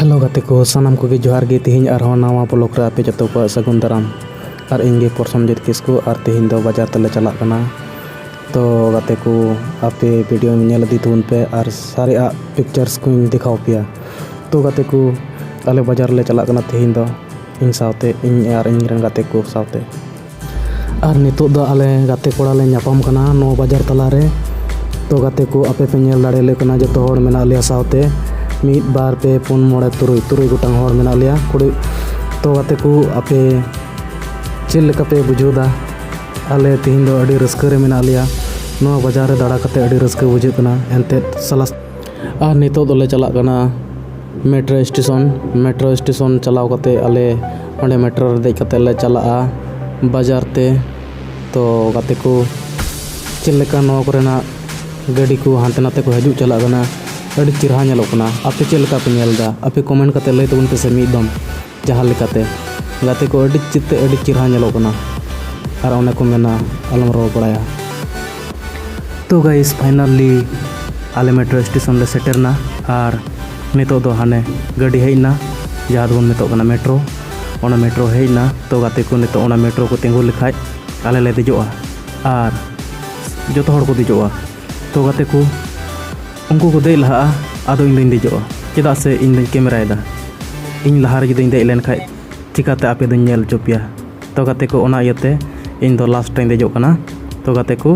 hello ᱜᱟᱛᱮ ᱠᱚ ᱥᱟᱱᱟᱢ ᱠᱚᱜᱮ ᱡᱚᱦᱟᱨ ᱜᱮ ᱛᱮᱦᱮᱧ ᱟᱨᱦᱚᱸ ᱱᱟᱣᱟ ᱵᱞᱚᱜ ᱨᱮ ᱟᱯᱮ ᱡᱚᱛᱚ ᱠᱚᱣᱟᱜ ᱥᱟᱹᱜᱩᱱ ᱫᱟᱨᱟᱢ ᱟᱨ ᱤᱧᱜᱮ ᱯᱨᱚᱥᱚᱱᱡᱤᱛ ᱠᱤᱥᱠᱩ ᱟᱨ ᱛᱮᱦᱮᱧ ᱫᱚ ᱵᱟᱡᱟᱨ ᱛᱮᱞᱮ ᱪᱟᱞᱟᱜ ᱠᱟᱱᱟ ᱛᱚ ᱜᱟᱛᱮ ᱠᱚ ᱟᱯᱮ ᱵᱷᱤᱰᱤᱭᱳ ᱧᱮᱞ ᱤᱫᱤ ᱛᱟᱵᱚᱱ ᱯᱮ ᱟᱨ ᱥᱟᱨᱮᱭᱟᱜ ᱯᱤᱠᱪᱟᱨᱥ ᱠᱚᱧ ᱫᱮᱠᱷᱟᱣ ᱯᱮᱭᱟ ᱛᱚ ᱜᱟᱛᱮ ᱠᱚ ᱟᱞᱮ ᱵᱟᱡᱟᱨ ᱞᱮ ᱪᱟᱞᱟᱜ ᱠᱟᱱᱟ ᱛᱮᱦᱮᱧ ᱫᱚ ᱤᱧ ᱥᱟᱶᱛᱮ ᱤᱧ ᱟᱨ ᱤᱧ ᱨᱮᱱ ᱜᱟᱛᱮ ᱠᱚ ᱥᱟᱶᱛᱮ ᱟᱨ ᱱᱤᱛᱚᱜ ᱫᱚ ᱟᱞᱮ ᱜᱟᱛᱮ ᱠᱚᱲᱟ ᱞᱮ ᱧᱟᱯᱟᱢ ᱠᱟᱱᱟ ᱱᱚᱣᱟ ᱵᱟᱡᱟᱨ ᱛᱟᱞᱟ ᱨᱮ ᱛᱚ ᱜᱟᱛᱮ ᱠᱚ ᱟᱯᱮ ᱯᱮ ᱧᱮᱞ ᱫᱟᱲᱮ ᱞᱮ ᱠᱟᱱᱟ ᱡᱚᱛᱚ ᱦᱚᱲ ᱢᱮᱱᱟᱜ ᱞᱮᱭᱟ ᱥᱟᱶᱛᱮ ᱢᱤᱫ ᱵᱟᱨ ᱯᱮ ᱯᱩᱱ ᱢᱚᱬᱮ ᱛᱩᱨᱩᱭ ᱛᱩᱨᱩᱭ ᱜᱚᱴᱟᱝ ᱦᱚᱲ ᱢᱮᱱᱟᱜ ᱞᱮᱭᱟ ᱠᱩᱲᱤ ᱛᱚ ᱜᱟᱛᱮ ᱠᱚ ᱟᱯᱮ ᱪᱮᱫ ᱞᱮᱠᱟ ᱯᱮ ᱵᱩᱡᱷᱟᱹᱣᱫᱟ ᱟᱞᱮ ᱛᱮᱦᱮᱧ ᱫᱚ ᱟᱹᱰᱤ ᱨᱟᱹᱥᱠᱟᱹ ᱨᱮ ᱢᱮᱱᱟᱜ ᱞᱮᱭᱟ ᱱᱚᱣᱟ ᱵᱟᱡᱟᱨ ᱨᱮ ᱫᱟᱬᱟ ᱠᱟᱛᱮ ᱟᱹᱰᱤ ᱨᱟᱹᱥᱠᱟᱹ ᱵᱩᱡᱷᱟᱹᱜ ᱠᱟᱱᱟ ᱮᱱᱛᱮᱫ ᱥᱟᱞᱟᱥ ᱟᱨ ᱱᱤᱛᱚᱜ ᱫᱚᱞᱮ ᱪᱟᱞᱟᱜ ᱠᱟᱱᱟ ᱢᱮᱴᱨᱳ ᱥᱴᱮᱥᱚᱱ ᱢᱮᱴᱨᱳ ᱥᱴᱮᱥᱚᱱ ᱪᱟᱞᱟᱣ ᱠᱟᱛᱮᱫ ᱟᱞᱮ ᱚᱸᱰᱮ ᱢᱮᱴᱨᱳ ᱨᱮ ᱫᱮᱡ ᱠᱟᱛᱮᱫ ᱞᱮ ᱪᱟᱞᱟᱜᱼᱟ ᱵᱟᱡᱟᱨ ᱛᱮ ᱛᱚ ᱜᱟᱛᱮ ᱠᱚ ᱪᱮᱫ ᱞᱮᱠᱟ ᱱᱚᱣᱟ ᱠᱚᱨᱮᱱᱟᱜ ᱜᱟᱹᱰᱤ ᱠᱚ ᱦᱟᱱᱛᱮ ᱱᱟᱛᱮ ᱠᱚ ᱦᱤᱡᱩᱜ ᱪᱟᱞᱟᱜ ᱠᱟᱱᱟ ᱟᱹᱰᱤ ᱪᱮᱦᱨᱟ ᱧᱮᱞᱚᱜ ᱠᱟᱱᱟ ᱟᱯᱮ ᱪᱮᱫ ᱞᱮᱠᱟ ᱯᱮ ᱧᱮᱞᱫᱟ ᱟᱯᱮ ᱠᱚᱢᱮᱱᱴ ᱠᱟᱛᱮᱫ ᱞᱟᱹᱭ ᱛᱟᱵᱚᱱ ᱯᱮᱥᱮ ᱢᱤᱫ ᱫᱚᱢ ᱡᱟᱦᱟᱸ ᱞᱮᱠᱟᱛᱮ ᱜᱟᱛᱮ ᱠᱚ ᱟᱹᱰᱤ ᱪᱮᱛᱮ ᱟᱹᱰᱤ ᱪᱮᱦᱨᱟ ᱧᱮᱞᱚᱜ ᱠᱟᱱᱟ ᱟᱨ ᱚᱱᱮ ᱠᱚ ᱢᱮᱱᱟ ᱟᱞᱚᱢ ᱨᱚᱲ ᱵᱟᱲᱟᱭᱟ ᱛᱚ ᱜᱟᱭᱤᱥ ᱯᱷᱟᱭᱱᱟᱞᱤ ᱟᱞᱮ ᱢᱮᱴᱨᱳ ᱥᱴᱮᱥᱚᱱ ᱞᱮ ᱥᱮᱴᱮᱨᱱᱟ ᱟᱨ ᱱᱤᱛᱚᱜ ᱫᱚ ᱦᱟᱱᱮ ᱜᱟᱹᱰᱤ ᱦᱮᱡ ᱮᱱᱟ ᱡᱟᱦᱟᱸ ᱫᱚᱵᱚᱱ ᱢᱮᱛᱟᱜ ᱠᱟᱱᱟ ᱢᱮᱴᱨᱳ ᱚᱱᱟ ᱢᱮᱴᱨᱳ ᱦᱮᱡ ᱮᱱᱟ ᱛᱚ ᱜᱟᱛᱮ ᱠᱚ ᱱᱤᱛᱚᱜ ᱚᱱᱟ ᱢᱮᱴᱨᱳ ᱠᱚ ᱛᱤᱸᱜᱩ ᱞᱮᱠᱷᱟᱡ ᱟᱞᱮ ᱞᱮ ᱫᱮᱡᱚᱜᱼᱟ ᱟᱨ ᱡᱚᱛᱚ ᱦᱚᱲ ᱠᱚ ᱫᱮᱡᱚᱜᱼᱟ ᱛᱚ ᱜᱟᱛᱮ ᱠᱚ ᱩᱱᱠᱩ ᱠᱚ ᱫᱮᱡ ᱞᱟᱦᱟᱜᱼᱟ ᱟᱫᱚ ᱤᱧ ᱫᱚᱧ ᱫᱮᱡᱚᱜᱼᱟ ᱪᱮᱫᱟᱜ ᱥᱮ ᱤᱧ ᱫᱚᱧ ᱠᱮᱢᱮᱨᱟᱭᱮᱫᱟ ᱤᱧ ᱞᱟᱦᱟᱨᱮ ᱡᱩᱫᱤᱧ ᱫᱮᱡ ᱞᱮᱱᱠᱷᱟᱡ ᱪᱤᱠᱟᱹᱛᱮ ᱟᱯᱮ ᱫᱚᱧ ᱧᱮᱞ ᱦᱚᱪᱚ ᱯᱮᱭᱟ ᱛᱚ ᱜᱟᱛᱮ ᱠᱚ ᱚᱱᱟ ᱤᱭᱟᱹᱛᱮ ᱤᱧ ᱫᱚ ᱞᱟᱥᱴ ᱨᱮᱧ ᱫᱮᱡᱚᱜ ᱠᱟᱱᱟ ᱛᱚ ᱜᱟᱛᱮ ᱠᱚ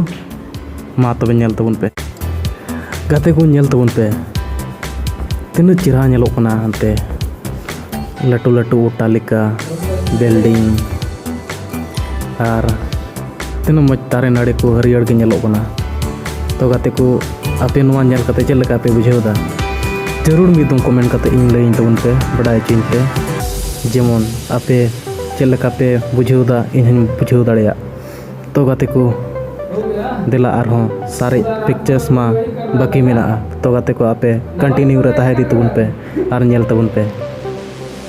ᱢᱟ ᱛᱚᱵᱮ ᱧᱮᱞ ᱛᱟᱵᱚᱱ ᱯᱮ ᱜᱟᱛᱮ ᱠᱚ ᱧᱮᱞ ᱛᱟᱵᱚᱱ ᱯᱮ ᱛᱤᱱᱟᱹᱜ ᱪᱮᱦᱨᱟ ᱧᱮᱞᱚᱜ ᱠᱟᱱᱟ ᱦᱟᱱᱛᱮ ᱞᱟᱹᱴᱩ ᱞᱟᱹᱴᱩ ᱚᱴᱴᱟᱞᱤᱠᱟ ᱵᱤᱞᱰᱤᱝ ᱟᱨ ᱛᱤᱱᱟᱹᱜ ᱢᱚᱡᱽ ᱫᱟᱨᱮ ᱱᱟᱹᱲᱤ ᱠᱚ ᱦᱟᱹᱨᱭᱟᱹᱲ ᱜᱮ ᱧᱮᱞᱚᱜ ᱠᱟᱱᱟ ᱛᱚ ᱜᱟᱛᱮ ᱠᱚ ᱟᱯᱮ ᱱᱚᱣᱟ ᱧᱮᱞ ᱠᱟᱛᱮ ᱪᱮᱫ ᱞᱮᱠᱟ ᱯᱮ ᱵᱩᱡᱷᱟᱹᱣ ᱮᱫᱟ ᱡᱟᱹᱨᱩᱲ ᱢᱤᱫ ᱫᱚᱢ ᱠᱚᱢᱮᱱᱴ ᱠᱟᱛᱮ ᱤᱧ ᱞᱟᱹᱭᱟᱹᱧ ᱛᱟᱵᱚᱱ ᱯᱮ ᱵᱟᱰᱟᱭ ᱦᱚᱪᱚᱧ ᱯᱮ ᱡᱮᱢᱚᱱ ᱟᱯᱮ ᱪᱮᱫ ᱞᱮᱠᱟ ᱯᱮ ᱵᱩᱡᱷᱟᱹᱣ ᱮᱫᱟ ᱤᱧ ᱦᱚᱧ ᱵᱩᱡᱷᱟᱹᱣ ᱫᱟᱲᱮᱭᱟᱜ ᱛᱚ ᱜᱟᱛᱮ ᱠᱚ ᱫᱮᱞᱟ ᱟᱨᱦᱚᱸ ᱥᱟᱨᱮᱡ ᱯᱤᱠᱪᱟᱨᱥ ᱢᱟ ᱵᱟᱹᱠᱤ ᱢᱮᱱᱟᱜᱼᱟ ᱛᱚ ᱜᱟᱛᱮ ᱠᱚ ᱟᱯᱮ ᱠᱚᱱᱴᱤᱱᱤᱭᱩ ᱨᱮ ᱛᱟᱦᱮᱸ ᱤᱫᱤ ᱛᱟᱵᱚᱱ ᱯᱮ ᱟᱨ ᱧᱮᱞ ᱛᱟᱵᱚᱱ ᱯᱮ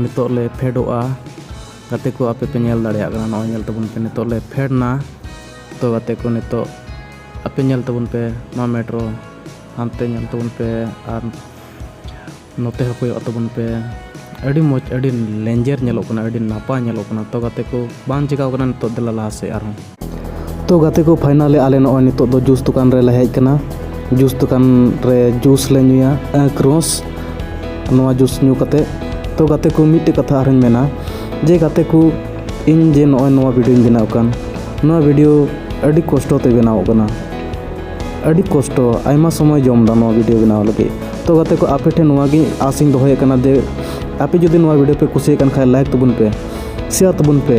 ᱱᱤᱛᱚᱜ ᱞᱮ ᱯᱷᱮᱰᱚᱜᱼᱟ ᱜᱟᱛᱮ ᱠᱚ ᱟᱯᱮ ᱯᱮ ᱧᱮᱞ ᱫᱟᱲᱮᱭᱟᱜ ᱠᱟᱱᱟ ᱱᱚᱜᱼᱚᱭ ᱧᱮᱞ ᱛᱟᱵᱚᱱ ᱯᱮ ᱱᱤᱛᱚᱜ ᱞᱮ ᱯᱷᱮᱰ ᱮᱱᱟ ᱛᱚ ᱜᱟᱛᱮ ᱠᱚ ᱱᱤᱛᱚᱜ ᱟᱯᱮ ᱧᱮᱞ ᱛᱟᱵᱚᱱ ᱯᱮ ᱱᱚᱣᱟ ᱢᱮᱴᱨᱳ ᱦᱟᱱᱛᱮ ᱧᱮᱞ ᱛᱟᱵᱚᱱ ᱯᱮ ᱟᱨ ᱱᱚᱛᱮ ᱦᱚᱸ ᱠᱚᱭᱚᱜ ᱛᱟᱵᱚᱱ ᱯᱮ ᱟᱹᱰᱤ ᱢᱚᱡᱽ ᱟᱹᱰᱤ ᱞᱮᱧᱡᱮᱨ ᱧᱮᱞᱚᱜ ᱠᱟᱱᱟ ᱟᱹᱰᱤ ᱱᱟᱯᱟᱭ ᱧᱮᱞᱚᱜ ᱠᱟᱱᱟ ᱛᱚ ᱜᱟᱛᱮ ᱠᱚ ᱵᱟᱝ ᱪᱤᱠᱟᱹᱣ ᱠᱟᱱᱟ ᱱᱤᱛᱚᱜ ᱫᱮᱞᱟ ᱞᱟᱦᱟ ᱥᱮᱫ ᱟᱨᱦᱚᱸ ᱛᱚ ᱜᱟᱛᱮ ᱠᱚ ᱯᱷᱟᱭᱱᱟᱞᱤ ᱟᱞᱮ ᱱᱚᱜᱼᱚᱭ ᱱᱤᱛᱚᱜ ᱫᱚ ᱡᱩᱥ ᱫᱚᱠᱟᱱ ᱨᱮᱞᱮ ᱦᱮᱡ ᱠᱟᱱᱟ ᱡᱩᱥ ᱫᱚᱠᱟᱱ ᱨᱮ ᱡᱩᱥ ᱞᱮ ᱧᱩᱭᱟ ᱠᱨᱚᱥ ᱱᱚᱣᱟ ᱡᱩᱥ ᱧᱩ ᱠᱟᱛᱮ ᱛᱚ ᱜᱟᱛᱮ ᱠᱚ ᱢᱤᱫᱴᱮᱡ ᱠᱟᱛᱷᱟ ᱟᱨᱦᱚᱸᱧ ᱢᱮᱱᱟ ᱡᱮ ᱜᱟᱛᱮ ᱠᱚ ᱤᱧ ᱡᱮ ᱱᱚᱜᱼᱚᱭ ᱱᱚᱣᱟ ᱵᱷᱤᱰᱤᱭᱳᱧ ᱵᱮᱱᱟᱣ ᱠᱟᱱ ᱱᱚᱣᱟ ᱵᱷᱤᱰᱤᱭᱳ ᱟᱹᱰᱤ ᱠᱚᱥᱴᱚ ᱛᱮ ᱵᱮᱱᱟᱣ ᱠᱟᱱᱟ ᱟᱹᱰᱤ ᱠᱚᱥᱴᱚ ᱟᱭᱢᱟ ᱥᱚᱢᱚᱭ ᱡᱚᱢ ᱫᱟ ᱱᱚᱣᱟ ᱵᱷᱤᱰᱤᱭᱳ ᱵᱮᱱᱟᱣ ᱞᱟᱹᱜᱤᱫ ᱛᱚ ᱜᱟᱛᱮ ᱠᱚ ᱟᱯᱮ ᱴᱷᱮᱱ ᱱᱚᱣᱟ ᱜᱮ ᱟᱥᱤᱧ ᱫᱚᱦᱚᱭᱮᱫ ᱠᱟᱱᱟ ᱡᱮ ᱟᱯᱮ ᱡᱩᱫᱤ ᱱᱚᱣᱟ ᱵᱷᱤᱰᱤᱭᱳ ᱯᱮ ᱠᱩᱥᱤᱭᱟᱜ ᱠᱟᱱ ᱠᱷᱟᱡ ᱞᱟᱭᱤᱠ ᱛᱟᱵᱚᱱ ᱯᱮ ᱥᱮᱭᱟᱨ ᱛᱟᱵᱚᱱ ᱯᱮ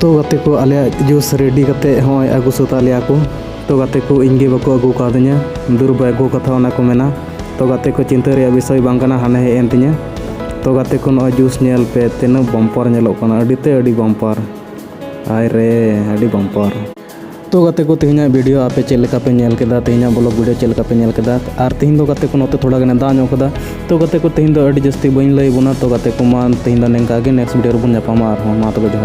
ᱛᱚ ᱜᱟᱛᱮ ᱠᱚ ᱟᱞᱮᱭᱟᱜ ᱡᱩᱥ ᱨᱮᱰᱤ ᱠᱟᱛᱮ ᱦᱚᱸ ᱟᱹᱜᱩ ᱥᱟᱹᱛᱟᱜ ᱞᱮᱭᱟ ᱠᱚ ᱛᱚ ᱜᱟᱛᱮ ᱠᱚ ᱤᱧ ᱜᱮ ᱵᱟᱠᱚ ᱟᱹᱜᱩ ᱠᱟᱣᱫᱤᱧᱟ ᱫᱩᱨᱵᱟ ᱟᱹᱜᱩ ᱠᱟᱛᱷᱟ ᱚᱱᱟ ᱠᱚ ᱢᱮᱱᱟ ᱛᱚ ᱜᱟᱛᱮ ᱠᱚ ᱪᱤᱱᱛᱟᱹ ᱨᱮᱭᱟᱜ ᱵᱤᱥᱚᱭ ᱵᱟᱝ ᱠᱟᱱᱟ ᱦᱟᱱᱮ ᱦᱮᱡ ᱮᱱ ᱛᱤᱧᱟᱹ ᱛᱚ ᱜᱟᱛᱮ ᱠᱚ ᱱᱚᱜᱼᱚᱭ ᱡᱩᱥ ᱧᱮᱞ ᱯᱮ ᱛᱤᱱᱟᱹᱜ ᱵᱚᱢᱯᱟᱨ ᱧᱮᱞᱚᱜ ᱠᱟᱱᱟ ᱟᱹᱰᱤ ᱛᱮ ᱟᱹᱰᱤ ᱵᱚᱢᱯᱟᱨ ᱟᱭ ᱨᱮ ᱟᱹᱰᱤ ᱵᱚᱢᱯᱟᱨ ᱛᱚ ᱜᱟᱛᱮ ᱠᱚ ᱛᱮᱦᱮᱧᱟᱜ ᱵᱷᱤᱰᱤᱭᱳ ᱟᱯᱮ ᱪᱮᱫ ᱞᱮᱠᱟ ᱯᱮ ᱧᱮᱞ ᱠᱮᱫᱟ ᱛᱮᱦᱮᱧᱟᱜ ᱵᱞᱚᱜ ᱵᱷᱤᱰᱤᱭᱳ ᱪᱮᱫ ᱞᱮᱠᱟ ᱯᱮ ᱧᱮᱞ ᱠᱮᱫᱟ ᱟᱨ ᱛᱮᱦᱮᱧ ᱫᱚ ᱜᱟᱛᱮ ᱠᱚ ᱱᱚᱛᱮ ᱛᱷᱚᱲᱟ ᱜᱟᱱᱮ ᱫᱟᱜ ᱧᱚᱜ ᱠᱟᱫᱟ ᱛᱚ ᱜᱟᱛᱮ ᱠᱚ ᱛᱮᱦᱮᱧ ᱫᱚ ᱟᱹᱰᱤ ᱡᱟᱹᱥᱛᱤ ᱵᱟᱹᱧ ᱞᱟᱹᱭ ᱵᱚᱱᱟ ᱛᱚ ᱜᱟᱛᱮ ᱠᱚ ᱢᱟ ᱛᱮᱦᱮᱧ ᱫᱚ ᱱᱤᱝᱠᱟ ᱜᱮ ᱱᱮᱠᱥᱴ ᱵᱷᱤᱰᱤᱭᱳ ᱨᱮᱵᱚᱱ ᱧᱟᱯᱟᱢᱟ ᱟᱨᱦᱚᱸ ᱢᱟ ᱛᱚᱵᱮ ᱡᱚᱦᱟᱨ